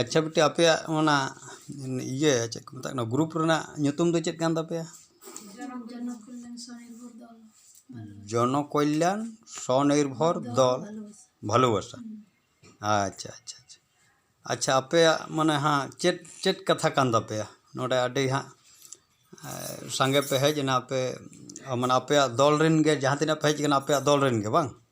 ᱟᱪᱪᱷᱟ ᱵᱤᱴᱤ ᱟᱯᱮᱭᱟᱜ ᱚᱱᱟ ᱤᱭᱟᱹ ᱪᱮᱫ ᱠᱚ ᱢᱮᱛᱟᱜ ᱠᱟᱱᱟ ᱜᱨᱩᱯ ᱨᱮᱱᱟᱜ ᱧᱩᱛᱩᱢ ᱫᱚ ᱪᱮᱫ ᱠᱟᱱ ᱛᱟᱯᱮᱭᱟ ᱡᱚᱱᱚ ᱠᱚᱞᱞᱟᱱ ᱥᱚᱱᱤᱨᱵᱷᱚᱨ ᱫᱚᱞ ᱵᱷᱟᱞᱳᱵᱟᱥᱟ ᱟᱪᱪᱷᱟ ᱟᱪᱪᱷᱟ ᱟᱪᱪᱷᱟ ᱟᱪᱪᱷᱟ ᱟᱯᱮᱭᱟᱜ ᱢᱟᱱᱮ ᱦᱟᱸᱜ ᱪᱮᱫ ᱪᱮᱫ ᱠᱟᱛᱷᱟ ᱠᱟᱱ ᱛᱟᱯᱮᱭᱟ ᱱᱚᱰᱮ ᱟᱹᱰᱤ ᱦᱟᱸᱜ ᱥᱟᱸᱜᱮ ᱯᱮ ᱦᱮᱡ ᱮᱱᱟ ᱟᱯᱮ ᱢᱟᱱᱮ ᱟᱯᱮᱭᱟᱜ ᱫᱚᱞ ᱨᱮᱱ ᱜᱮ ᱡᱟᱦᱟᱸ ᱛᱤᱱᱟᱹᱜ ᱯᱮ ᱦᱮᱡ ᱠᱟᱱᱟ ᱟᱯᱮᱭᱟᱜ ᱫᱚᱞ ᱨᱮᱱ ᱜᱮ ᱵᱟᱝ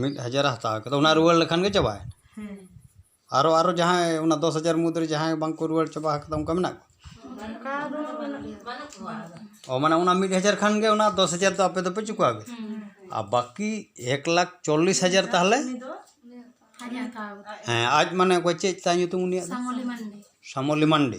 ᱢᱤᱫ ᱦᱟᱡᱟᱨ ᱮ ᱦᱟᱛᱟᱣ ᱠᱮᱫᱟ ᱚᱱᱟ ᱨᱩᱣᱟᱹᱲ ᱞᱮᱠᱷᱟᱱ ᱜᱮ ᱪᱟᱵᱟᱭᱮᱱᱟ ᱟᱨᱚ ᱟᱨᱚ ᱡᱟᱦᱟᱸᱭ ᱚᱱᱟ ᱫᱚᱥ ᱦᱟᱡᱟᱨ ᱢᱩᱫᱽ ᱨᱮ ᱡᱟᱦᱟᱸᱭ ᱵᱟᱝ ᱠᱚ ᱨᱩᱣᱟᱹᱲ ᱪᱟᱵᱟ ᱟᱠᱟᱫᱟ ᱚᱱᱠᱟ ᱢᱮᱱᱟᱜ ᱠᱚᱣᱟ ᱚ ᱢᱟᱱᱮ ᱚᱱᱟ ᱢᱤᱫ ᱦᱟᱡᱟᱨ ᱠᱷᱟᱱ ᱜᱮ ᱚᱱᱟ ᱫᱚᱥ ᱦᱟᱡᱟᱨ ᱫᱚ ᱟᱯᱮ ᱫᱚᱯᱮ ᱪᱩᱠᱟᱹᱣ ᱠᱮᱫᱟ ᱟᱨ ᱵᱟᱹᱠᱤ ᱮᱠ ᱞᱟᱠᱷ ᱪᱚᱞᱞᱤᱥ ᱦᱟᱡᱟᱨ ᱛᱟᱦᱚᱞᱮ ᱦᱮᱸ ᱟᱡ ᱢᱟᱱᱮ ᱚᱠᱚᱭ ᱪᱮᱫ ᱛᱟᱭ ᱧᱩᱛᱩᱢ ᱩᱱᱤᱭᱟᱜ ᱫᱚ ᱥᱟᱢᱚᱞᱤ ᱢᱟᱱᱰᱤ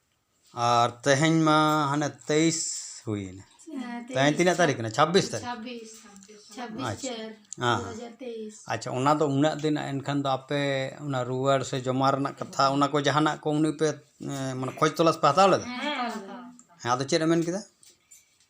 ᱟᱨ ᱛᱮᱦᱮᱧ ᱢᱟ ᱦᱟᱱᱮ ᱛᱮᱭᱤᱥ ᱦᱩᱭᱮᱱᱟ ᱛᱮᱦᱮᱧ ᱛᱤᱱᱟᱹᱜ ᱛᱟᱹᱨᱤᱠᱷ ᱠᱟᱱᱟ ᱪᱷᱟᱵᱵᱤᱥ ᱛᱟᱹᱨᱤᱠᱷ ᱟᱪᱪᱷᱟ ᱟᱪᱪᱷᱟ ᱚᱱᱟ ᱫᱚ ᱩᱱᱟᱹᱜ ᱫᱤᱱ ᱮᱱᱠᱷᱟᱱ ᱫᱚ ᱟᱯᱮ ᱚᱱᱟ ᱨᱩᱣᱟᱹᱲ ᱥᱮ ᱡᱚᱢᱟ ᱨᱮᱱᱟᱜ ᱠᱟᱛᱷᱟ ᱚᱱᱟ ᱠᱚ ᱡᱟᱦᱟᱱᱟᱜ ᱠᱚ ᱩᱱᱤ ᱯᱮ ᱢᱟᱱᱮ ᱠᱷᱚᱡᱽ ᱛᱚᱞᱟᱥ ᱯᱮ ᱦᱟᱛᱟᱣ ᱞᱮᱫᱟ ᱦᱮᱸ ᱟᱫᱚ ᱪᱮᱫ ᱮ ᱢᱮᱱ ᱠᱮᱫᱟ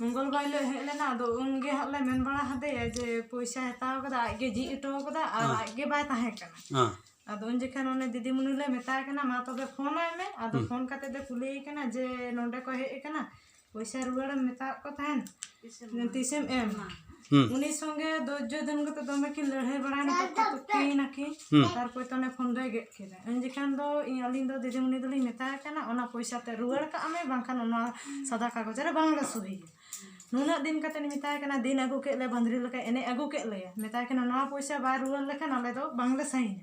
ᱢᱚᱝᱜᱚᱞ ᱵᱟᱨ ᱦᱤᱞᱳᱜ ᱦᱮᱡ ᱞᱮᱱᱟ ᱟᱫᱚ ᱩᱱ ᱜᱮ ᱦᱟᱸᱜ ᱞᱮ ᱢᱮᱱ ᱵᱟᱲᱟ ᱦᱟᱫᱮᱭᱟ ᱡᱮ ᱯᱚᱭᱥᱟᱭ ᱦᱟᱛᱟᱣ ᱠᱟᱫᱟ ᱟᱡ ᱜᱮ ᱡᱷᱤᱡ ᱦᱚᱴᱚ ᱠᱟᱫᱟ ᱟᱨ ᱟᱡ ᱜᱮ ᱵᱟᱭ ᱛᱟᱦᱮᱸ ᱠᱟᱱᱟ ᱦᱮᱸ ᱟᱫᱚ ᱩᱱ ᱡᱚᱠᱷᱚᱱ ᱩᱱᱤ ᱫᱤᱫᱤᱢᱩᱱᱤ ᱞᱮ ᱢᱮᱛᱟᱭ ᱠᱟᱱᱟ ᱢᱟ ᱛᱚᱵᱮ ᱯᱷᱳᱱ ᱟᱭ ᱢᱮ ᱟᱫᱚ ᱯᱷᱳᱱ ᱠᱟᱛᱮ ᱞᱮ ᱠᱩᱞᱤᱭᱮ ᱠᱟᱱᱟ ᱡᱮ ᱱᱚᱸᱰᱮ ᱠᱚ ᱦᱮᱡ ᱠᱟᱱᱟ ᱯᱚᱭᱥᱟ ᱨᱩᱣᱟᱹᱲᱮᱢ ᱢᱮᱛᱟᱣᱟᱫ ᱠᱚ ᱛᱟᱦᱮᱱ ᱛᱤᱥᱮᱢ ᱮᱢᱟ ᱩᱱᱤ ᱥᱚᱸᱜᱮ ᱫᱚᱨᱡᱚ ᱫᱤᱱ ᱠᱟᱛᱮ ᱫᱚᱢᱮ ᱠᱤᱱ ᱞᱟᱹᱲᱦᱟᱹᱭ ᱵᱟᱲᱟᱭᱱᱟ ᱛᱚᱠᱠᱟ ᱛᱚᱠᱠᱤᱭ ᱱᱟᱠᱤᱱ ᱛᱟᱨᱯᱚᱨ ᱛᱚ ᱚᱱᱮ ᱯᱷᱳᱱ ᱫᱚᱭ ᱜᱮᱫ ᱠᱮᱫᱟ ᱩᱱ ᱡᱚᱠᱷᱟᱱ ᱫᱚ ᱤᱧ ᱟᱹᱞᱤᱧ ᱫᱚ ᱫᱤᱫᱤᱢᱩᱱᱤ ᱫᱚᱞᱤᱧ ᱢᱮᱛᱟᱭ ᱠᱟᱱᱟ ᱚᱱᱟ ᱯᱚᱭᱥᱟ ᱛᱮ ᱨᱩᱣᱟᱹᱲ ᱠᱟᱜ ᱢᱮ ᱵᱟᱝᱠᱷᱟᱱ ᱚᱱᱟ ᱥᱟᱫᱟ ᱠᱟᱜᱚᱡᱽ ᱨᱮ ᱵᱟᱝᱞᱮ ᱥᱩᱦᱤᱭᱟ ᱱᱩᱱᱟᱹᱜ ᱫᱤᱱ ᱠᱟᱛᱮ ᱤᱧ ᱢᱮᱛᱟᱭ ᱠᱟᱱᱟ ᱫᱤᱱ ᱟᱹᱜᱩ ᱠᱮᱫ ᱞᱮ ᱵᱟᱹᱫᱽᱨᱤ ᱞᱮᱠᱟᱭ ᱮᱱᱮᱡ ᱟᱹᱜᱩ ᱠᱮᱫ ᱞᱮᱭᱟ ᱢᱮᱛᱟᱭ ᱠᱟᱱᱟ ᱱᱚᱣᱟ ᱯᱚᱭᱥᱟ ᱵᱟᱭ ᱨᱩᱣᱟᱹᱲ ᱞᱮᱠᱷᱟᱱ ᱟᱞᱮ ᱫᱚ ᱵᱟᱝᱞᱮ ᱥᱟᱭᱤᱱᱟ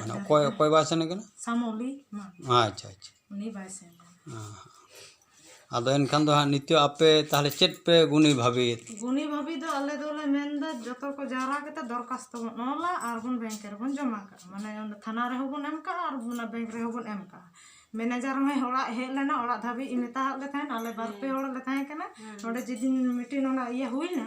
ᱢᱟᱱᱮ ᱚᱠᱚᱭ ᱚᱠᱚᱭ ᱵᱟᱭ ᱥᱮᱱ ᱠᱟᱱᱟ ᱟᱪᱪᱷᱟ ᱟᱪᱪᱷᱟ ᱟᱫᱚ ᱮᱱᱠᱷᱟᱱ ᱫᱚ ᱦᱟᱸᱜ ᱱᱤᱛᱚᱜ ᱟᱯᱮ ᱛᱟᱦᱚᱞᱮ ᱪᱮᱫ ᱯᱮ ᱜᱩᱱᱤ ᱵᱷᱟᱹᱵᱤᱭᱮᱫ ᱜᱩᱱᱤ ᱵᱷᱟᱹᱵᱤ ᱫᱚ ᱟᱞᱮ ᱫᱚᱞᱮ ᱢᱮᱱᱫᱟ ᱡᱚᱛᱚ ᱠᱚ ᱡᱟᱣᱨᱟ ᱠᱟᱛᱮ ᱫᱚᱨᱠᱟᱥᱛᱚ ᱵᱚᱱ ᱚᱞᱟ ᱟᱨ ᱵᱚᱱ ᱵᱮᱝᱠ ᱨᱮᱵᱚᱱ ᱡᱚᱢᱟ ᱠᱟᱜᱼᱟ ᱢᱟᱱᱮ ᱚᱸᱰᱮ ᱛᱷᱟᱱᱟ ᱨᱮᱦᱚᱸ ᱵᱚᱱ ᱮᱢ ᱠᱟᱜᱼᱟ ᱟᱨ ᱚᱱᱟ ᱵᱮᱝᱠ ᱨᱮᱦᱚᱸ ᱵᱚᱱ ᱮᱢ ᱠᱟᱜᱼᱟ ᱢᱮᱱᱮᱡᱟᱨ ᱦᱚᱸᱭ ᱚᱲᱟᱜ ᱦᱮᱡ ᱞᱮᱱᱟ ᱚᱲᱟᱜ ᱫᱷᱟᱹᱵᱤᱡ ᱢᱮᱛᱟᱣᱟᱫ ᱞᱮ ᱛᱟᱦᱮᱸᱫ ᱟᱞᱮ ᱵᱟᱨ ᱯᱮ ᱦᱚᱲ ᱞᱮ ᱛᱟᱦᱮᱸ ᱠᱟᱱᱟ ᱱᱚᱰᱮ ᱡᱮᱫᱤᱱ ᱢᱤᱴᱤᱝ ᱚᱱᱟ ᱤᱭᱟᱹ ᱦᱩᱭᱱᱟ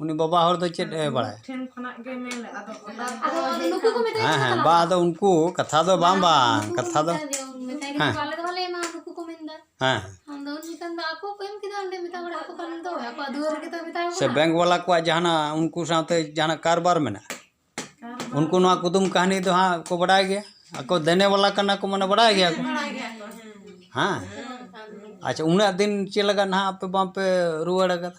ᱩᱱᱤ ᱵᱟᱵᱟ ᱦᱚᱲ ᱫᱚ ᱪᱮᱫ ᱮ ᱵᱟᱲᱟᱭᱟ ᱦᱮᱸ ᱦᱮᱸ ᱵᱟ ᱟᱫᱚ ᱩᱱᱠᱩ ᱠᱟᱛᱷᱟ ᱫᱚ ᱵᱟᱝ ᱵᱟᱝ ᱠᱟᱛᱷᱟ ᱫᱚ ᱦᱮᱸ ᱦᱮᱸ ᱥᱮ ᱵᱮᱝᱠ ᱵᱟᱞᱟ ᱠᱚᱣᱟᱜ ᱡᱟᱦᱟᱱᱟᱜ ᱩᱱᱠᱩ ᱥᱟᱶᱛᱮ ᱡᱟᱦᱟᱱᱟᱜ ᱠᱟᱨᱵᱟᱨ ᱢᱮᱱᱟᱜᱼᱟ ᱩᱱᱠᱩ ᱱᱚᱣᱟ ᱠᱩᱫᱩᱢ ᱠᱟᱹᱦᱱᱤ ᱫᱚ ᱦᱟᱸᱜ ᱠᱚ ᱵᱟᱰᱟᱭ ᱜᱮᱭᱟ ᱟᱠᱚ ᱫᱮᱱᱮ ᱵᱟᱞᱟ ᱠᱟᱱᱟ ᱠᱚ ᱢᱟᱱᱮ ᱵᱟᱰᱟᱭ ᱜᱮᱭᱟ ᱠᱚ ᱦᱮᱸ ᱟᱪᱪᱷᱟ ᱩᱱᱟᱹᱜ ᱫᱤᱱ ᱪᱮᱫ ᱞᱟᱜᱟᱫ ᱱᱟᱦᱟᱜ ᱟᱯᱮ ᱵᱟᱝᱯᱮ ᱨᱩᱣᱟᱹᱲ ᱟᱠᱟᱫᱟ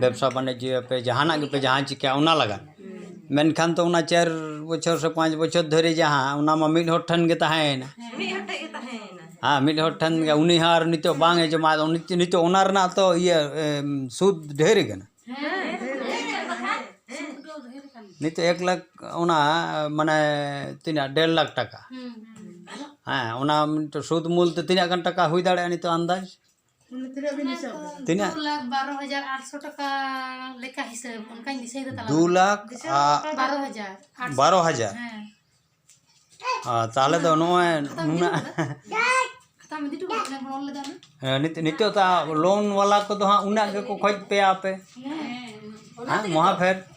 ᱵᱮᱵᱽᱥᱟ ᱵᱟᱱᱤᱡᱡᱚᱭᱟᱯᱮ ᱡᱟᱦᱟᱱᱟᱜ ᱜᱮᱯᱮ ᱡᱟᱦᱟᱸ ᱪᱤᱠᱟᱹᱭᱟ ᱚᱱᱟ ᱞᱟᱜᱟᱫ ᱢᱮᱱᱠᱷᱟᱱ ᱫᱚ ᱚᱱᱟ ᱪᱟᱨ ᱵᱚᱪᱷᱚᱨ ᱥᱮ ᱯᱟᱸᱪ ᱵᱚᱪᱷᱚᱨ ᱫᱷᱚᱨᱮ ᱡᱟᱦᱟᱸ ᱚᱱᱟ ᱢᱟ ᱢᱤᱫ ᱦᱚᱲ ᱴᱷᱮᱱ ᱜᱮ ᱛᱟᱦᱮᱸᱭᱮᱱᱟ ᱦᱮᱸ ᱢᱤᱫ ᱦᱚᱲ ᱴᱷᱮᱱ ᱜᱮ ᱩᱱᱤ ᱦᱚᱸ ᱟᱨ ᱱᱤᱛᱚᱜ ᱵᱟᱝ ᱮ ᱡᱚᱢᱟ ᱟᱫᱚ ᱱᱤᱛᱚᱜ ᱚᱱᱟ ᱨᱮᱱᱟᱜ ᱛᱚ ᱤᱭᱟᱹ ᱥᱩᱫᱽ ᱰᱷᱮᱨ ᱠᱟᱱᱟ ᱱᱤᱛᱚᱜ ᱮᱠ ᱞᱟᱠᱷ ᱚᱱᱟ ᱢᱟᱱᱮ ᱛᱤᱱᱟᱹᱜ ᱰᱮᱲ ᱞᱟᱠᱷ ᱴᱟᱠᱟ ᱦᱮᱸ ᱚᱱᱟ ᱥᱩᱫᱽ ᱢᱩᱞ ᱛᱮ ᱛᱤᱱᱟᱹᱜ ᱜᱟᱱ ᱴᱟᱠᱟ ᱦᱩᱭ ᱫᱟᱲᱮᱭᱟᱜᱼᱟ ᱱᱤᱛᱚᱜ ᱟᱱᱫᱟᱡᱽ ᱛᱤᱱᱟᱹᱜ ᱫᱩ ᱞᱟᱠᱷ ᱵᱟᱨᱚ ᱦᱟᱡᱟᱨ ᱛᱟᱦᱚᱞᱮ ᱫᱚ ᱱᱚᱜᱼᱚᱭ ᱱᱩᱱᱟᱹᱜ ᱱᱤᱛᱚᱜ ᱫᱚ ᱞᱳᱱ ᱵᱟᱞᱟ ᱠᱚᱫᱚ ᱦᱟᱸᱜ ᱩᱱᱟᱹᱜ ᱜᱮᱠᱚ ᱠᱷᱚᱡ ᱯᱮᱭᱟ ᱟᱯᱮ ᱦᱮᱸ ᱢᱚᱦᱟᱯᱷᱮᱨ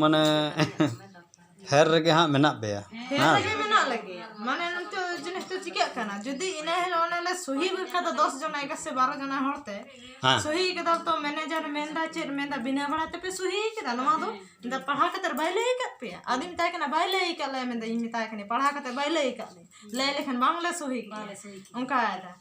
ᱢᱟᱱᱮ ᱯᱷᱮᱨ ᱨᱮᱜᱮ ᱦᱟᱸᱜ ᱢᱮᱱᱟᱜ ᱯᱮᱭᱟ ᱦᱮᱸ ᱢᱟᱱᱮ ᱱᱤᱛᱚᱜ ᱡᱤᱱᱤᱥ ᱫᱚ ᱪᱤᱠᱟᱹᱜ ᱠᱟᱱᱟ ᱡᱩᱫᱤ ᱤᱱᱟᱹ ᱦᱤᱞᱳᱜ ᱚᱱᱮ ᱞᱮ ᱥᱩᱦᱤ ᱠᱟᱫᱟ ᱫᱚᱥ ᱡᱚᱱᱟ ᱮᱜᱟᱨᱚ ᱥᱮ ᱵᱟᱨᱚ ᱡᱚᱱᱟ ᱦᱚᱲ ᱛᱮ ᱥᱩᱦᱤ ᱠᱟᱫᱟ ᱛᱚ ᱢᱮᱱᱮᱡᱟᱨ ᱢᱮᱱᱫᱟ ᱪᱮᱫ ᱢᱮᱱᱫᱟ ᱵᱤᱱᱟᱹ ᱵᱷᱟᱲᱟ ᱛᱮᱯᱮ ᱥᱩᱦᱤ ᱠᱟᱫᱟ ᱱᱚᱣᱟ ᱫᱚ ᱢᱮᱱᱫᱟ ᱯᱟᱲᱦᱟᱣ ᱠᱟᱛᱮ ᱵᱟᱭ ᱞᱟᱹᱭ ᱟᱠᱟᱫ ᱯᱮᱭᱟ ᱟᱫᱚᱧ ᱢᱮᱛᱟᱭ ᱠᱟᱱᱟ ᱵᱟᱭ ᱞᱟᱹᱭ ᱟᱠᱟᱫ ᱞᱮᱭᱟ ᱢᱮᱱᱫᱟ ᱤᱧ ᱢᱮᱛᱟᱭ ᱠᱟᱹᱱᱟᱹᱧ ᱯᱟᱲᱦᱟᱣ ᱠᱟᱛᱮ ᱵᱟᱭ ᱞᱟᱹᱭ ᱟᱠᱟᱫ ᱞᱮᱭᱟ ᱞᱟᱹᱭ ᱞᱮᱠᱷᱟᱱ ᱵᱟᱝᱞᱮ ᱥᱩᱦᱤ ᱠᱮᱭᱟ ᱚᱱᱠᱟᱭᱮᱫᱟᱭ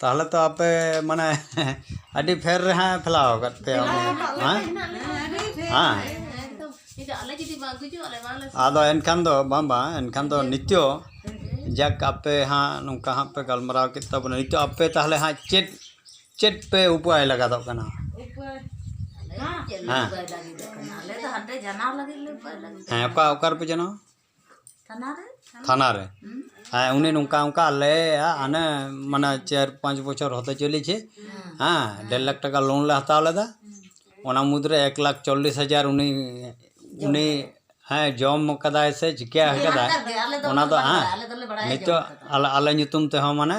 ᱛᱟᱦᱚᱞᱮ ᱛᱚ ᱟᱯᱮ ᱢᱟᱱᱮ ᱟᱹᱰᱤ ᱯᱷᱮᱨ ᱨᱮ ᱦᱟᱸᱜ ᱯᱷᱮᱞᱟᱣ ᱠᱟᱫ ᱯᱮᱭᱟ ᱟᱫᱚ ᱮᱱᱠᱷᱟᱱ ᱫᱚ ᱵᱟᱝ ᱵᱟᱝ ᱮᱱᱠᱷᱟᱱ ᱫᱚ ᱱᱤᱛᱚᱜ ᱡᱟᱠ ᱟᱯᱮ ᱦᱟᱸᱜ ᱱᱚᱝᱠᱟ ᱦᱟᱸᱜ ᱯᱮ ᱜᱟᱞᱢᱟᱨᱟᱣ ᱠᱮᱫ ᱛᱟᱵᱚᱱᱟ ᱱᱤᱛᱚᱜ ᱟᱯᱮ ᱛᱟᱦᱚᱞᱮ ᱦᱟᱸᱜ ᱪᱮᱫ ᱪᱮᱫ ᱯᱮ ᱩᱯᱟᱹᱭ ᱞᱟᱜᱟᱫᱚᱜ ᱠᱟᱱᱟ ᱦᱮᱸ ᱚᱠᱟ ᱚᱠᱟ ᱨᱮᱯᱮ ᱡᱟᱱᱟᱣᱟ ᱛᱷᱟᱱᱟ ᱨᱮ ᱦᱮᱸ ᱩᱱᱤ ᱱᱚᱝᱠᱟ ᱚᱝᱠᱟ ᱟᱞᱮᱭᱟᱜ ᱦᱟᱱᱮ ᱢᱟᱱᱮ ᱪᱟᱨ ᱯᱟᱸᱪ ᱵᱚᱪᱷᱚᱨ ᱦᱚᱛᱮ ᱪᱚᱞᱞᱤ ᱪᱷᱮ ᱦᱮᱸ ᱰᱮᱲ ᱞᱟᱠᱷ ᱴᱟᱠᱟ ᱞᱳᱱ ᱞᱮ ᱦᱟᱛᱟᱣ ᱞᱮᱫᱟ ᱚᱱᱟ ᱢᱩᱫᱽ ᱨᱮ ᱮᱠ ᱞᱟᱠᱷ ᱪᱚᱞᱞᱤᱥ ᱦᱟᱡᱟᱨ ᱩᱱᱤ ᱩᱱᱤ ᱦᱮᱸ ᱡᱚᱢ ᱠᱟᱫᱟᱭ ᱥᱮ ᱪᱤᱠᱟᱹ ᱠᱟᱫᱟᱭ ᱚᱱᱟ ᱫᱚ ᱦᱮᱸ ᱱᱤᱛᱚᱜ ᱟᱞᱮ ᱧᱩᱛᱩᱢ ᱛᱮᱦᱚᱸ ᱢᱟᱱᱮ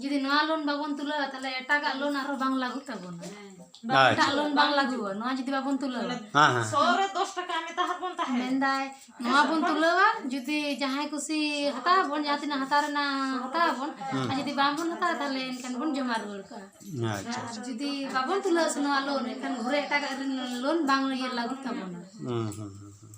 ᱡᱩᱫᱤ ᱱᱚᱣᱟ ᱞᱳᱱ ᱵᱟᱵᱚᱱ ᱛᱩᱞᱟᱹᱣᱟ ᱛᱟᱦᱞᱮ ᱮᱴᱟᱜᱟᱜ ᱞᱳᱱ ᱟᱨᱦᱚᱸ ᱵᱟᱝ ᱞᱟᱹᱜᱩᱜ ᱛᱟᱵᱚᱱᱟ ᱮᱴᱟᱜ ᱞᱳᱱ ᱵᱟᱝ ᱞᱟᱹᱜᱩᱜᱼᱟ ᱱᱚᱣᱟ ᱡᱩᱫᱤ ᱵᱟᱵᱚᱱ ᱛᱩᱞᱟᱹᱣᱟ ᱢᱮᱱᱫᱟᱭ ᱱᱚᱣᱟ ᱵᱚᱱ ᱛᱩᱞᱟᱹᱣᱟ ᱡᱩᱫᱤ ᱡᱟᱦᱟᱸᱭ ᱠᱩᱥᱤ ᱦᱟᱛᱟᱣ ᱟᱵᱚᱱ ᱡᱟᱦᱟᱸ ᱛᱤᱱᱟᱹᱜ ᱦᱟᱛᱟᱣ ᱨᱮᱱᱟᱜ ᱦᱟᱛᱟᱣ ᱟᱵᱚᱱ ᱟᱨ ᱡᱩᱫᱤ ᱵᱟᱝᱵᱚᱱ ᱦᱟᱛᱟᱣᱟ ᱛᱟᱦᱞᱮ ᱮᱱᱠᱷᱟᱱ ᱵᱚᱱ ᱡᱚᱢᱟ ᱨᱩᱣᱟᱹᱲ ᱠᱟᱜᱼᱟ ᱟᱨ ᱡᱩᱫᱤ ᱵᱟᱵᱚᱱ ᱛᱩᱞᱟᱹᱣᱟ ᱥᱮ ᱱᱚᱣᱟ ᱞᱳᱱ ᱮᱱᱠᱷᱟᱱ ᱜᱷᱩᱨᱮ ᱮᱴᱟᱜᱟᱜ ᱞᱳᱱ ᱵᱟᱝ ᱞᱟᱹᱜᱩᱜ ᱛᱟᱵᱚᱱᱟ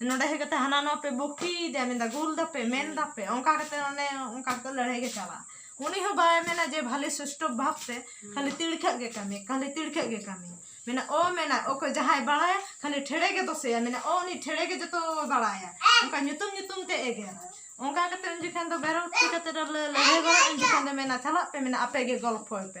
ᱱᱚᱰᱮ ᱦᱮᱡ ᱠᱟᱛᱮ ᱦᱟᱱᱟ ᱱᱚᱣᱟ ᱯᱮ ᱵᱚᱠᱤᱭᱮᱫᱟ ᱢᱮᱱᱫᱟ ᱜᱩᱞ ᱫᱟᱯᱮ ᱢᱮᱱ ᱫᱟᱯᱮ ᱚᱱᱠᱟ ᱠᱟᱛᱮ ᱚᱱᱮ ᱚᱱᱠᱟ ᱠᱟᱛᱮ ᱞᱟᱹᱲᱦᱟᱹᱭ ᱜᱮ ᱪᱟᱞᱟᱜᱼᱟ ᱩᱱᱤ ᱦᱚᱸ ᱵᱟᱭ ᱢᱮᱱᱟ ᱡᱮ ᱵᱷᱟᱞᱮ ᱥᱩᱥᱴᱚ ᱵᱷᱟᱵ ᱛᱮ ᱠᱷᱟᱹᱞᱤ ᱛᱤᱲᱠᱷᱟᱹᱜ ᱜᱮ ᱠᱟᱹᱢᱤ ᱠᱷᱟᱹᱞᱤ ᱛᱤᱲᱠᱷᱟᱹᱜ ᱜᱮ ᱠᱟᱹᱢᱤ ᱢᱮᱱᱟ ᱚ ᱢᱮᱱᱟ ᱚᱠᱚᱭ ᱡᱟᱦᱟᱸᱭ ᱵᱟᱲᱟᱭᱟ ᱠᱷᱟᱹᱞᱤ ᱴᱷᱮᱲᱮ ᱜᱮ ᱫᱚᱥᱮᱭᱟ ᱢᱮᱱᱟ ᱚ ᱩᱱᱤ ᱴᱷᱮᱲᱮ ᱜᱮ ᱡᱚᱛᱚ ᱵᱟᱲᱟᱭᱟ ᱚᱱᱠᱟ ᱧᱩᱛᱩᱢ ᱧᱩᱛᱩᱢ ᱛᱮ ᱮᱜᱮᱨᱟ ᱚᱱᱠᱟ ᱠᱟᱛᱮ ᱩᱱ ᱡᱚᱠᱷᱟᱱ ᱫᱚ ᱵᱮᱨᱚᱠᱛᱤ ᱠᱟᱛᱮ ᱞᱟᱹᱲᱦᱟᱹᱭ ᱵᱟᱲᱟᱜᱼᱟ ᱩᱱ ᱡᱚᱠᱷᱟᱱ ᱫᱚ ᱢᱮᱱᱟ ᱪᱟᱞᱟᱜ ᱯᱮ ᱢᱮᱱᱟ ᱟᱯᱮ ᱜᱮ ᱜᱚᱞᱯᱷᱚᱭ ᱯᱮ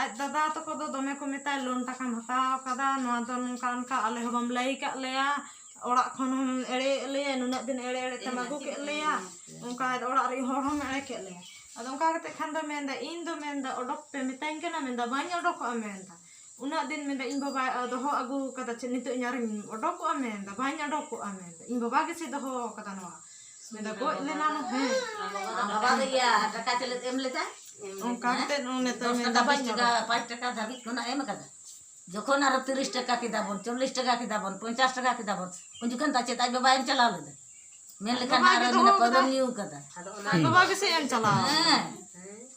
ᱟᱡ ᱫᱟᱫᱟ ᱛᱟᱠᱚ ᱫᱚ ᱫᱚᱢᱮ ᱠᱚ ᱢᱮᱛᱟᱭ ᱞᱳᱱ ᱴᱟᱠᱟᱢ ᱦᱟᱛᱟᱣ ᱟᱠᱟᱫᱟ ᱱᱚᱣᱟ ᱫᱚ ᱱᱚᱝᱠᱟ ᱚᱱᱠᱟ ᱟᱞᱮ ᱦᱚᱸ ᱵᱟᱢ ᱞᱟᱹᱭ ᱟᱠᱟᱫ ᱞᱮᱭᱟ ᱚᱲᱟᱜ ᱠᱷᱚᱱ ᱦᱚᱢ ᱮᱲᱮᱭᱮᱫ ᱞᱮᱭᱟ ᱱᱩᱱᱟᱹᱜ ᱫᱤᱱ ᱮᱲᱮ ᱮᱲᱮ ᱛᱮᱢ ᱟᱹᱜᱩ ᱠᱮᱫ ᱞᱮᱭᱟ ᱚᱱᱠᱟ ᱚᱲᱟᱜ ᱨᱮᱱ ᱦᱚᱲ ᱦᱚᱢ ᱮᱲᱮ ᱠᱮᱫ ᱞᱮᱭᱟ ᱟᱫᱚ ᱚᱱᱠᱟ ᱠᱟᱛᱮ ᱠᱷᱟᱱ ᱫᱚ ᱢᱮᱱᱫᱟᱭ ᱤᱧ ᱫᱚ ᱢᱮᱱᱫᱟ ᱚᱰᱚᱠ ᱯᱮ ᱢᱮᱛᱟᱹᱧ ᱠᱟᱱᱟ ᱢᱮᱱᱫᱟ ᱵᱟᱹᱧ ᱚᱰᱚᱠᱚᱜᱼᱟ ᱢᱮᱱᱫᱟ ᱩᱱᱟᱹᱜ ᱫᱤᱱ ᱢᱮᱱᱫᱟ ᱤᱧ ᱵᱟᱵᱟᱭ ᱫᱚᱦᱚ ᱟᱹᱜᱩ ᱟᱠᱟᱫᱟ ᱪᱮᱫ ᱱᱤᱛᱚᱜ ᱤᱧ ᱟᱨᱚᱧ ᱚᱰᱚᱠᱚᱜᱼᱟ ᱢᱮᱱᱫᱟ ᱵᱟᱹᱧ ᱚᱰᱚᱠᱚᱜᱼᱟ ᱢᱮᱱᱫᱟ ᱤᱧ ᱵᱟᱵᱟ ᱜᱮᱥᱮ ᱫᱚᱦᱚ ᱟᱠᱟᱫᱟ ᱱᱚᱣᱟ ᱜᱚᱡ ᱞᱮᱱᱟ ᱦᱮᱸ ᱵᱟᱵᱟ ᱫᱚ ᱤᱭᱟᱹ ᱴᱟᱠᱟ ᱪᱮᱞᱮ ᱮᱢ ᱞᱮᱫᱟ ᱚᱱᱠᱟ ᱠᱟᱛᱮ ᱱᱤᱛᱚᱜ ᱴᱟᱠᱟ ᱵᱟᱭ ᱪᱟᱠᱟ ᱯᱟᱸᱪ ᱴᱟᱠᱟ ᱫᱷᱟᱹᱵᱤᱡ ᱠᱷᱚᱱᱟᱜ ᱮᱢ ᱠᱟᱫᱟ ᱡᱚᱠᱷᱚᱱ ᱟᱨᱚ ᱛᱤᱨᱤᱥ ᱴᱟᱠᱟ ᱠᱮᱫᱟ ᱵᱚᱱ ᱪᱚᱞᱞᱤᱥ ᱴᱟᱠᱟ ᱠᱮᱫᱟ ᱵᱚᱱ ᱯᱚᱧᱪᱟᱥ ᱴᱟᱠᱟ ᱠᱮᱫᱟ ᱵᱚᱱ ᱩᱱ ᱡᱚᱠᱷᱚᱱ ᱫᱚ ᱪᱮᱫ ᱟᱡ ᱵᱟᱵᱟ ᱮᱢ ᱪᱟᱞᱟᱣ ᱞᱮᱫᱟ ᱢᱮᱱ ᱞᱮᱠᱷᱟᱱ ᱟᱨᱚ ᱢᱮᱱᱟ ᱯᱟᱹᱣᱨᱟᱹᱢ ᱧᱩ ᱠᱟᱫᱟ ᱟᱡ ᱵᱟᱵᱟ ᱜᱮᱥᱮ ᱮᱢ ᱪᱟᱞᱟᱣ ᱦᱮᱸ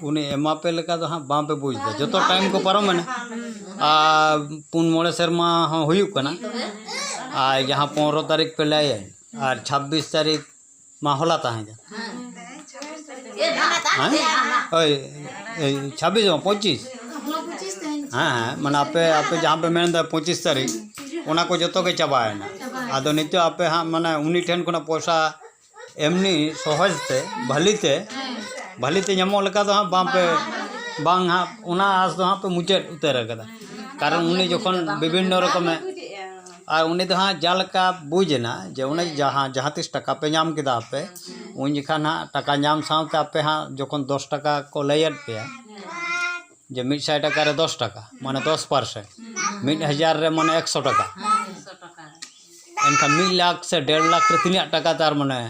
ᱩᱱᱤ ᱮᱢᱟ ᱯᱮ ᱞᱮᱠᱟ ᱫᱚ ᱦᱟᱸᱜ ᱵᱟᱝ ᱯᱮ ᱵᱩᱡᱽ ᱮᱫᱟ ᱡᱚᱛᱚ ᱴᱟᱭᱤᱢ ᱠᱚ ᱯᱟᱨᱚᱢᱮᱱᱟ ᱟᱨ ᱯᱩᱱ ᱢᱚᱬᱮ ᱥᱮᱨᱢᱟ ᱦᱚᱸ ᱦᱩᱭᱩᱜ ᱠᱟᱱᱟ ᱟᱨ ᱡᱟᱦᱟᱸ ᱯᱚᱱᱨᱚ ᱛᱟᱹᱨᱤᱠᱷ ᱯᱮ ᱞᱟᱹᱭᱟ ᱟᱨ ᱪᱷᱟᱵᱽᱵᱤᱥ ᱛᱟᱹᱨᱤᱠᱷ ᱢᱟ ᱦᱚᱞᱟ ᱛᱟᱦᱮᱸ ᱠᱟᱱᱟ ᱦᱮᱸ ᱳᱭ ᱳᱭ ᱪᱷᱟᱵᱽᱵᱤᱥ ᱵᱟᱝ ᱯᱚᱸᱪᱤᱥ ᱦᱮᱸ ᱦᱮᱸ ᱢᱟᱱᱮ ᱟᱯᱮ ᱟᱯᱮ ᱡᱟᱦᱟᱸ ᱯᱮ ᱢᱮᱱᱫᱟ ᱯᱚᱸᱪᱤᱥ ᱛᱟᱹᱨᱤᱠᱷ ᱚᱱᱟ ᱠᱚ ᱡᱚᱛᱚ ᱜᱮ ᱪᱟᱵᱟᱭᱮᱱᱟ ᱟᱫᱚ ᱱᱤᱛᱚᱜ ᱟᱯᱮ ᱦᱟᱸᱜ ᱢᱟᱱᱮ ᱩᱱᱤ ᱴᱷᱮᱱ ᱠᱷᱚᱱᱟᱜ ᱯᱚᱭᱥᱟ ᱮᱢᱱᱤ ᱥᱚᱦᱚᱡᱽ ᱛᱮ ᱵᱷᱟᱹᱞᱤ ᱛᱮ ᱵᱷᱟᱹᱞᱤ ᱛᱮ ᱧᱟᱢᱚᱜ ᱞᱮᱠᱟ ᱫᱚ ᱦᱟᱸᱜ ᱵᱟᱝ ᱯᱮ ᱵᱟᱝ ᱦᱟᱸᱜ ᱚᱱᱟ ᱟᱸᱥ ᱫᱚ ᱦᱟᱸᱜ ᱯᱮ ᱢᱩᱪᱟᱹᱫ ᱩᱛᱟᱹᱨ ᱠᱟᱫᱟ ᱠᱟᱨᱚᱱ ᱩᱱᱤ ᱡᱚᱠᱷᱚᱱ ᱵᱤᱵᱷᱤᱱᱱᱚ ᱨᱚᱠᱚᱢᱮ ᱟᱨ ᱩᱱᱤ ᱫᱚ ᱦᱟᱸᱜ ᱡᱟᱦᱟᱸ ᱞᱮᱠᱟ ᱵᱩᱡᱽ ᱮᱱᱟ ᱡᱮ ᱩᱱᱤ ᱡᱟᱦᱟᱸ ᱡᱟᱦᱟᱸ ᱛᱤᱥ ᱴᱟᱠᱟ ᱯᱮ ᱧᱟᱢ ᱠᱮᱫᱟ ᱟᱯᱮ ᱩᱱ ᱡᱚᱠᱷᱟᱱ ᱦᱟᱸᱜ ᱴᱟᱠᱟ ᱧᱟᱢ ᱥᱟᱶᱛᱮ ᱟᱯᱮ ᱦᱟᱸᱜ ᱡᱚᱠᱷᱚᱱ ᱫᱚᱥ ᱴᱟᱠᱟ ᱠᱚ ᱞᱟᱹᱭᱟᱫ ᱯᱮᱭᱟ ᱡᱮ ᱢᱤᱫ ᱥᱟᱭ ᱴᱟᱠᱟ ᱨᱮ ᱫᱚᱥ ᱴᱟᱠᱟ ᱢᱟᱱᱮ ᱫᱚᱥ ᱯᱟᱨᱥᱮᱱᱴ ᱢᱤᱫ ᱦᱟᱡᱟᱨ ᱨᱮ ᱢᱟᱱᱮ ᱮᱠᱥᱚ ᱴᱟᱠᱟ ᱮᱱᱠᱷᱟᱱ ᱢᱤᱫ ᱞᱟᱠᱷ ᱥᱮ ᱰᱮᱲ ᱞᱟᱠᱷ ᱨᱮ ᱛᱤᱱᱟᱹᱜ ᱴᱟᱠᱟ ᱛᱟᱨ ᱢᱟᱱᱮ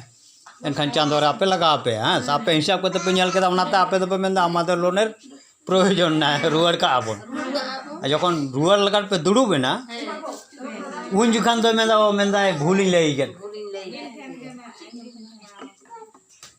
ᱮᱱᱠᱷᱟᱱ ᱪᱟᱸᱫᱚ ᱨᱮ ᱟᱯᱮ ᱞᱟᱜᱟᱣ ᱯᱮᱭᱟ ᱦᱮᱸ ᱥᱮ ᱟᱯᱮ ᱦᱤᱥᱟᱹᱵ ᱠᱟᱛᱮ ᱯᱮ ᱧᱮᱞ ᱠᱮᱫᱟ ᱚᱱᱟᱛᱮ ᱟᱯᱮ ᱫᱚᱯᱮ ᱢᱮᱱᱫᱟ ᱟᱢᱟᱫᱮᱨ ᱞᱳᱱᱮᱨ ᱯᱨᱳᱭᱳᱡᱚᱱ ᱢᱮᱱᱟᱜᱼᱟ ᱦᱮᱸ ᱨᱩᱣᱟᱹᱲ ᱠᱟᱜᱼᱟ ᱵᱚᱱ ᱟᱨ ᱡᱚᱠᱷᱚᱱ ᱨᱩᱣᱟᱹᱲ ᱞᱟᱹᱜᱤᱫ ᱯᱮ ᱫᱩᱲᱩᱵ ᱮᱱᱟ ᱩᱱ ᱡᱚᱠᱷᱟᱱ ᱫᱚᱭ ᱢᱮᱱᱫᱟ ᱚ ᱢᱮᱱᱫᱟᱭ ᱵᱷᱩᱞᱤᱧ ᱞᱟᱹᱭ ᱠᱮᱫ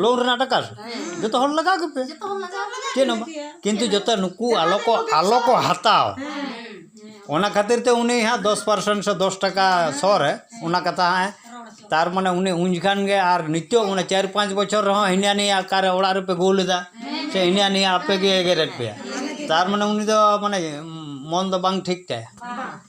ᱞᱳᱱ ᱨᱮᱱᱟᱜ ᱴᱟᱠᱟ ᱡᱚᱛᱚ ᱦᱚᱲ ᱞᱟᱜᱟᱣ ᱜᱮᱯᱮ ᱪᱮᱫ ᱦᱚᱸ ᱠᱤᱱᱛᱩ ᱡᱚᱛᱚ ᱱᱩᱠᱩ ᱟᱞᱚ ᱠᱚ ᱟᱞᱚ ᱠᱚ ᱦᱟᱛᱟᱣ ᱚᱱᱟ ᱠᱷᱟᱹᱛᱤᱨ ᱛᱮ ᱩᱱᱤ ᱦᱟᱸᱜ ᱫᱚᱥ ᱯᱟᱨᱥᱮᱱ ᱥᱮ ᱫᱚᱥ ᱴᱟᱠᱟ ᱥᱚ ᱨᱮ ᱚᱱᱟ ᱠᱟᱛᱷᱟ ᱦᱟᱸᱜ ᱛᱟᱨ ᱢᱟᱱᱮ ᱩᱱᱤ ᱩᱱ ᱡᱚᱠᱷᱟᱱ ᱜᱮ ᱟᱨ ᱱᱤᱛᱚᱜ ᱚᱱᱟ ᱪᱟᱨ ᱯᱟᱸᱪ ᱵᱚᱪᱷᱚᱨ ᱨᱮᱦᱚᱸ ᱦᱤᱱᱟ ᱱᱤᱭᱟ ᱚᱠᱟᱨᱮ ᱚᱲᱟᱜ ᱨᱮᱯᱮ ᱜᱳᱞ ᱮᱫᱟ ᱥᱮ ᱦᱤᱱᱟ ᱱᱤᱭᱟ ᱟᱯᱮ ᱜᱮ ᱮᱜᱮᱨᱮᱫ ᱯᱮᱭᱟ ᱛᱟᱨ ᱢᱟᱱᱮ ᱩᱱᱤ ᱫᱚ ᱢᱟᱱᱮ ᱢᱚᱱ ᱫᱚ ᱵᱟᱝ ᱴᱷᱤᱠ ᱛᱟᱭᱟ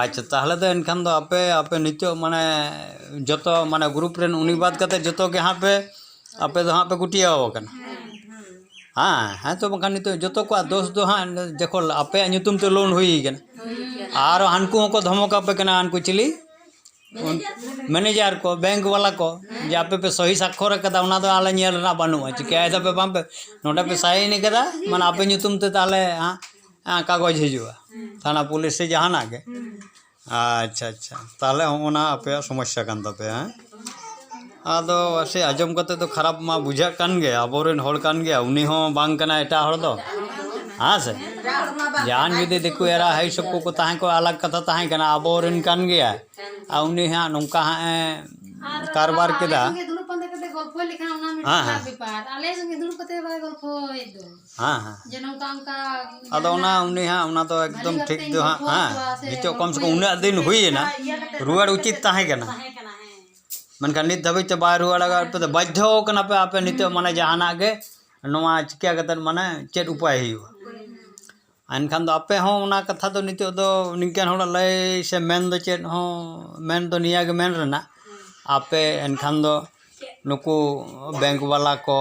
ᱟᱪᱪᱷᱟ ᱛᱟᱦᱚᱞᱮ ᱫᱚ ᱮᱱᱠᱷᱟᱱ ᱫᱚ ᱟᱯᱮ ᱟᱯᱮ ᱱᱤᱛᱚᱜ ᱢᱟᱱᱮ ᱡᱚᱛᱚ ᱢᱟᱱᱮ ᱜᱨᱩᱯ ᱨᱮᱱ ᱩᱱᱤ ᱵᱟᱫ ᱠᱟᱛᱮᱫ ᱡᱚᱛᱚ ᱜᱮ ᱦᱟᱸᱜ ᱯᱮ ᱟᱯᱮ ᱫᱚ ᱦᱟᱸᱜ ᱯᱮ ᱜᱩᱴᱭᱟᱹᱣ ᱟᱠᱟᱱᱟ ᱦᱮᱸ ᱦᱮᱸ ᱛᱚ ᱵᱟᱠᱷᱟᱱ ᱱᱤᱛᱚᱜ ᱡᱚᱛᱚ ᱠᱚᱣᱟᱜ ᱫᱳᱥ ᱫᱚ ᱦᱟᱸᱜ ᱡᱚᱠᱷᱚᱱ ᱟᱯᱮᱭᱟᱜ ᱧᱩᱛᱩᱢ ᱛᱮ ᱞᱳᱱ ᱦᱩᱭ ᱠᱟᱱᱟ ᱟᱨ ᱦᱟᱹᱱᱠᱩ ᱦᱚᱸᱠᱚ ᱫᱷᱚᱢᱚᱠ ᱟᱯᱮ ᱠᱟᱱᱟ ᱦᱟᱹᱱᱠᱩ ᱪᱤᱞᱤ ᱢᱮᱱᱮᱡᱟᱨ ᱠᱚ ᱵᱮᱝᱠ ᱵᱟᱞᱟ ᱠᱚ ᱡᱮ ᱟᱯᱮ ᱯᱮ ᱥᱚᱦᱤ ᱥᱟᱠᱠᱷᱚᱨ ᱠᱟᱫᱟ ᱚᱱᱟ ᱫᱚ ᱟᱞᱮ ᱧᱮᱞ ᱨᱮᱱᱟᱜ ᱵᱟᱹᱱᱩᱜᱼᱟ ᱪᱤᱠᱟᱹᱭ ᱫᱟᱯᱮ ᱵᱟᱝ ᱯᱮ ᱱᱚᱰᱮ ᱯᱮ ᱥᱟᱭᱤᱱ ᱠᱟᱫᱟ ᱢᱟᱱᱮ ᱟᱯᱮ ᱧᱩᱛᱩᱢ ᱛᱮ ᱛᱟᱦᱚᱞᱮ ᱦᱟᱸᱜ ᱠᱟᱜᱚᱡᱽ ᱦᱤᱡᱩᱜᱼᱟ ᱛᱷᱟᱱᱟ ᱯᱩᱞᱤᱥ ᱥᱮ ᱡᱟᱦᱟᱱᱟᱜ ᱜᱮ ᱟᱪᱪᱷᱟ ᱟᱪᱪᱷᱟ ᱛᱟᱦᱚᱞᱮ ᱦᱚᱸᱜᱼᱚ ᱱᱟ ᱟᱯᱮᱭᱟᱜ ᱥᱚᱢᱚᱥᱥᱟ ᱠᱟᱱ ᱛᱟᱯᱮᱭᱟ ᱦᱮᱸ ᱟᱫᱚ ᱥᱮ ᱟᱸᱡᱚᱢ ᱠᱟᱛᱮ ᱫᱚ ᱠᱷᱟᱨᱟᱯ ᱢᱟ ᱵᱩᱡᱷᱟᱹᱜ ᱠᱟᱱ ᱜᱮ ᱟᱵᱚ ᱨᱮᱱ ᱦᱚᱲ ᱠᱟᱱ ᱜᱮᱭᱟᱭ ᱩᱱᱤ ᱦᱚᱸ ᱵᱟᱝ ᱠᱟᱱᱟᱭ ᱮᱴᱟᱜ ᱦᱚᱲ ᱫᱚ ᱦᱮᱸ ᱥᱮ ᱡᱟᱦᱟᱱ ᱡᱩᱫᱤ ᱫᱤᱠᱩ ᱮᱨᱟ ᱦᱟᱹᱭ ᱥᱚᱵ ᱠᱚᱠᱚ ᱛᱟᱦᱮᱸ ᱠᱚᱜᱼᱟ ᱟᱞᱟᱜᱽ ᱠᱟᱛᱷᱟ ᱛᱟᱦᱮᱸ ᱠᱟᱱᱟ ᱟᱵᱚ ᱨᱮᱱ ᱠᱟᱱ ᱜᱮᱭᱟᱭ ᱟᱨ ᱩᱱᱤ ᱦᱟᱸᱜ ᱱᱚᱝᱠᱟ ᱦᱟᱸᱜ ᱮ ᱠᱟᱨᱵᱟᱨ ᱠᱮᱫᱟ ᱦᱮᱸ ᱦᱮᱸ ᱦᱮᱸ ᱦᱮᱸ ᱡᱮ ᱱᱚᱝᱠᱟ ᱚᱱᱠᱟ ᱟᱫᱚ ᱚᱱᱟ ᱩᱱᱤ ᱦᱟᱸᱜ ᱚᱱᱟ ᱫᱚ ᱮᱠᱫᱚᱢ ᱴᱷᱤᱠ ᱫᱚ ᱦᱟᱸᱜ ᱦᱮᱸ ᱱᱤᱛᱚᱜ ᱠᱚᱢ ᱥᱮ ᱠᱚᱢ ᱩᱱᱟᱹᱜ ᱫᱤᱱ ᱦᱩᱭᱮᱱᱟ ᱨᱩᱣᱟᱹᱲ ᱩᱪᱤᱛ ᱛᱟᱦᱮᱸ ᱠᱟᱱᱟ ᱢᱮᱱᱠᱷᱟᱱ ᱱᱤᱛ ᱫᱷᱟᱹᱵᱤᱡ ᱛᱮ ᱵᱟᱭ ᱨᱩᱣᱟᱹᱲ ᱟᱠᱟᱫ ᱯᱮ ᱵᱟᱫᱽᱫᱷᱚ ᱠᱟᱱᱟ ᱯᱮ ᱟᱯᱮ ᱱᱤᱛᱚᱜ ᱢᱟᱱᱮ ᱡᱟᱦᱟᱱᱟᱜ ᱜᱮ ᱱᱚᱣᱟ ᱪᱤᱠᱟᱹ ᱠᱟᱛᱮᱫ ᱢᱟᱱᱮ ᱪᱮᱫ ᱩᱯᱟᱭ ᱦᱩᱭᱩᱜᱼᱟ ᱮᱱᱠᱷᱟᱱ ᱫᱚ ᱟᱯᱮ ᱦᱚᱸ ᱚᱱᱟ ᱠᱟᱛᱷᱟ ᱫᱚ ᱱᱤᱛᱚᱜ ᱫᱚ ᱱᱤᱝᱠᱟᱹᱱ ᱦᱚᱲᱟᱜ ᱞᱟᱹᱭ ᱥᱮ ᱢᱮᱱ ᱫᱚ ᱪᱮᱫ ᱦᱚᱸ ᱢᱮᱱ ᱫᱚ ᱱᱤᱭᱟᱹ ᱜᱮ ᱢᱮᱱ ᱨᱮᱱᱟᱜ ᱟᱯᱮ ᱮᱱᱠᱷᱟᱱ ᱫᱚ ᱱᱩᱠᱩ ᱵᱮᱝᱠ ᱵᱟᱞᱟ ᱠᱚ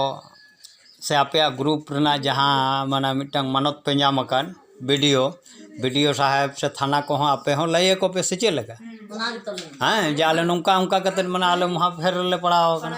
ᱥᱮ ᱟᱯᱮᱭᱟᱜ ᱜᱨᱩᱯ ᱨᱮᱱᱟᱜ ᱡᱟᱦᱟᱸ ᱢᱟᱱᱮ ᱢᱤᱫᱴᱟᱝ ᱢᱟᱱᱚᱛ ᱯᱮ ᱧᱟᱢ ᱟᱠᱟᱫ B D O B D ᱳ ᱥᱟᱦᱮᱵᱽ ᱥᱮ ᱛᱷᱟᱱᱟ ᱠᱚᱦᱚᱸ ᱟᱯᱮ ᱦᱚᱸ ᱞᱟᱹᱭ ᱟᱠᱚ ᱯᱮ ᱥᱮ ᱪᱮᱫ ᱞᱮᱠᱟ ᱦᱮᱸ ᱡᱮ ᱟᱞᱮ ᱱᱚᱝᱠᱟ ᱚᱱᱠᱟ ᱠᱟᱛᱮᱫ ᱢᱟᱱᱮ ᱟᱞᱮ ᱢᱚᱦᱟ ᱯᱷᱮᱨ ᱨᱮᱞᱮ ᱯᱟᱲᱟᱣ ᱟᱠᱟᱱᱟ